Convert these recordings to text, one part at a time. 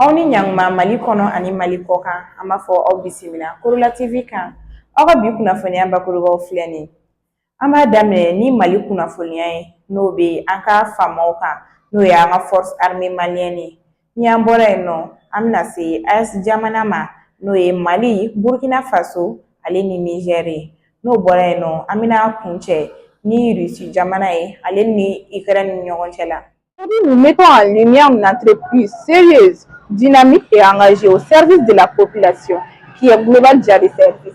aw ni ɲankuma mali kɔnɔ ani mali kɔ kan an b'a fɔ aw bisimila korola tv kan aw ka bi kunnafoniya bakurubaw filɛ nin an b'a daminɛ ni mali kunnafoniya ye n'o bɛ an ka faamaw kan n'o ye an ka force armée malienne ye Ni an bɔra yen nɔ an bɛna se AES jamana ma n'o ye Mali, Burukina Faso ale ni Nizɛri ye n'o bɔra yen nɔ an bɛna kun cɛ ni Irisi jamana ye ale ni Ikɛrɛni ni ɲɔgɔn cɛ la. Nous mettons en lumière une entreprise sérieuse, dynamique et engagée au service de la population qui est Global Jali Service.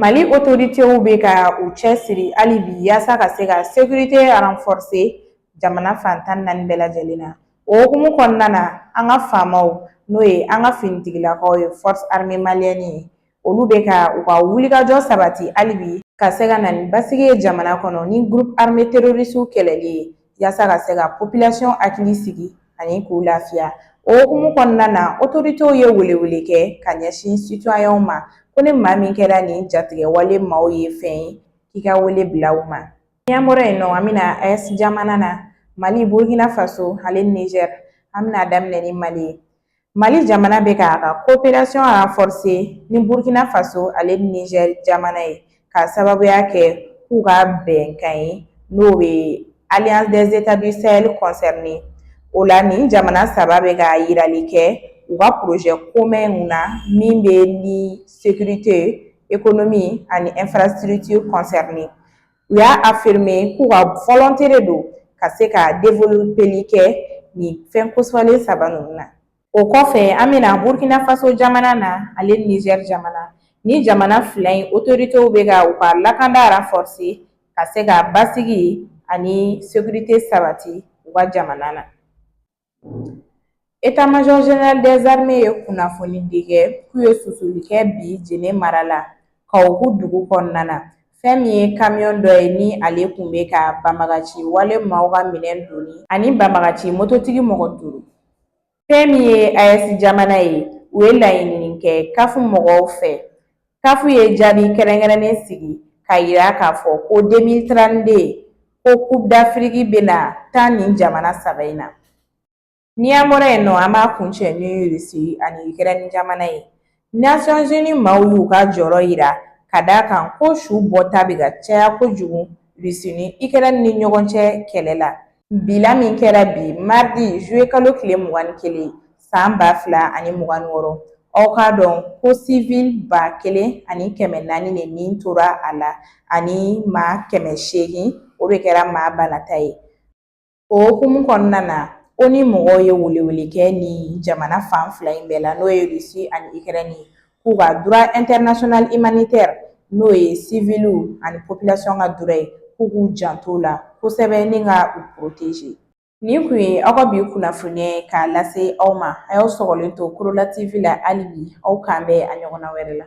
Mali otoritew bɛ ka u cɛ siri hali bi yaasa ka se ka sekurite ranfɔrise jamana fan tan ni naani bɛɛ lajɛlen na o hukumu kɔnɔna na an ka faamaw n'o ye an ka finitigilakaw ye force armée malienne ye olu bɛ ka u ka wulikajɔ sabati hali bi ka se ka na ni basigi ye jamana kɔnɔ ni groupe armé terorisiw kɛlɛli ye yaasa ka se ka population hakili sigi ani k'u lafiya o hukumu kɔnɔna na otoritew ye welewele kɛ ka ɲɛsin sitɔyɛnw ma ko ni maa min kɛra nin jatigɛwale maaw ye fɛn ye k'i ka wele bila u ma n'an bɔra yen nɔ an bɛna aes jamana na mali burkina faso ani niger an bɛna daminɛ ni mali ye Mali jamana bɛ k'a ka koperasiyɔn ranfɔrise ni burukina faso ale nizɛri jamana ye k'a sababuya kɛ k'u ka bɛnkan ye n'o bɛ Alliance des États du Sahel kɔnsɛrine o la nin jamana saba bɛ ka jirali kɛ u ka porozɛ komɛnw na min bɛ ni sekurite ekonomi ani infrastructure kɔnsɛrine U y'a afirime k'u ka volonté de don ka se ka developeli kɛ nin fɛn kofɔlen saba ninnu na o kɔfɛ an bɛna burukina faso jamana na ale nizɛri jamana nin jamana fila in otoritew bɛ ka u ka lakanda ranfɔrise ka se ka basigi ani sekurite sabati u ka jamana na Etamajɔ Zenerali dɛzarime ye kunnafonidi kɛ k'u ye susuli kɛ bi Jene mara la Kawoku dugu kɔnɔna na fɛn min ye kamiyɔn dɔ ye ni ale tun bɛ ka banbagaci wale maaw ka minɛn doni ani banbagaci mototigi mɔgɔ duuru fɛn min ye AES jamana ye u ye laɲinini kɛ kafu mɔgɔw fɛ kafu ye jaabi kɛrɛnkɛrɛnnen sigi k'a yira k'a fɔ ko deux mille trente-deux ko coupe d'afrique bɛna tan nin jamana saba in na ni an bɔra yen nɔ an b'a kuncɛ ni irisi ani ikɛrɛni jamana ye nasɔnzini maaw y'u ka jɔrɔ yira ka d'a kan ko su bɔta bɛ ka caya kojugu irisi ni ikɛrɛni ni ɲɔgɔn cɛ kɛlɛ la Bilan min kɛra bi maridi zuluye kalo tile mugan ni kelen san ba fila ani mugan ni wɔɔrɔ aw k'a dɔn ko siwili ba kelen ani kɛmɛ naani de ni tora a la ani maa kɛmɛ seegin o de kɛra maa banata ye o hukumu kɔnɔna na onu mɔgɔw ye welewele kɛ ni jamana fan fila in bɛɛ la n'o ye irisi ani ikɛrɛni ye k'u ka duruwa ɛntɛrinasiyɔnali imanitɛri n'o ye siwiliw ani popilasɔn ka duruwa ye k'u k'u janto o la kosɛbɛ ni ka u poroteze nin kun ye aw ka bi kunnafoni ye k'a lase aw ma a y'aw sɔgɔlen to korola tv la hali bi aw k'an bɛn a ɲɔgɔnna wɛrɛ la